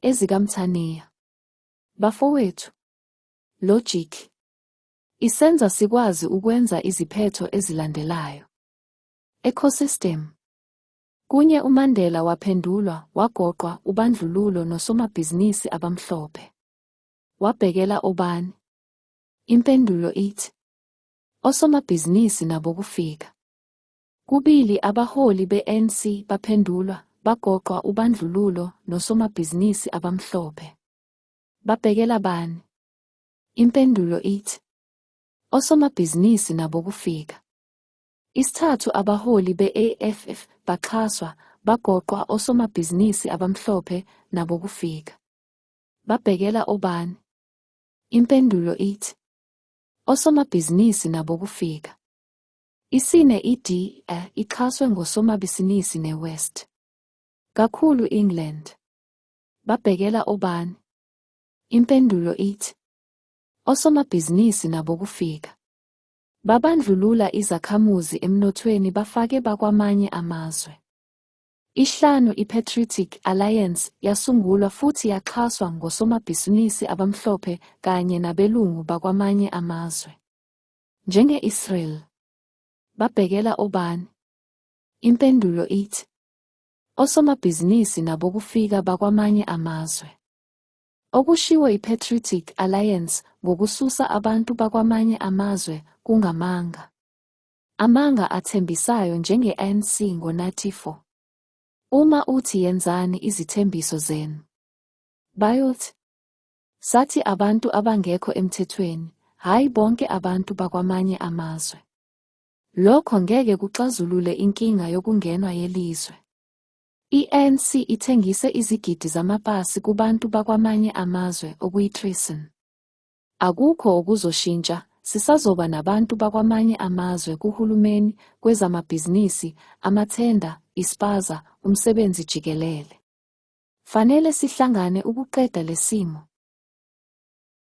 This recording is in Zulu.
EzikaMthaniya. Bafowethu, logic, isenza sikwazi ukwenza iziphetho ezilandelayo. Ecosystem. Kunye uMandela waphendulwa, wagoqwa, ubandlululo nosomabhizinisi abamhlophe. Wabhekela obani? Impendulo ithi, osomabhizinisi nabokufika. Kubili abaholi be-ANC baphendulwa, bagoqwa ubandlululo nosomabhizinisi abamhlophe. Babhekela bani? Impendulo ithi, Osomabhizinisi nabo kufika. Isithathu abaholi be-AFF baxhaswa, bagoqwa osomabhizinisi abamhlophe nabo kufika. Babhekela obani? Impendulo ithi, Osomabhizinisi nabo kufika. Isine iDA ixhaswe ngosomabhisinisi neWest. Kakhulu England. Babhekela obani? Impendulo ithi osomabhizinisi nabo kufika. Babandlulula izakhamuzi emnothweni bafake bakwamanye amazwe. Ihlanu iPatriotic Alliance yasungulwa futhi yaxhaswa ngosomabhisinisi abamhlophe kanye nabelungu bakwamanye amazwe. Njenge-Israel, babhekela obani? Impendulo ithi, Osomabhizinisi nabokufika bakwamanye amazwe. Okushiwo iPatriotic Alliance ngokususa abantu bakwamanye amazwe kungamanga. Amanga athembisayo njenge-ANC ngo-94. Uma uthi yenzani izithembiso zenu. Bayothi, Sathi abantu abangekho emthethweni, hhayi bonke abantu bakwamanye amazwe. Lokho ngeke kuxazulule inkinga yokungenwa yelizwe. I-ANC ithengise izigidi zamapasi kubantu bakwamanye amazwe okuyi-treason. Akukho okuzoshintsha, sisazoba nabantu bakwamanye amazwe kuhulumeni, kwezamabhizinisi, amathenda, ispaza, umsebenzi jikelele. Fanele sihlangane ukuqeda lesimo.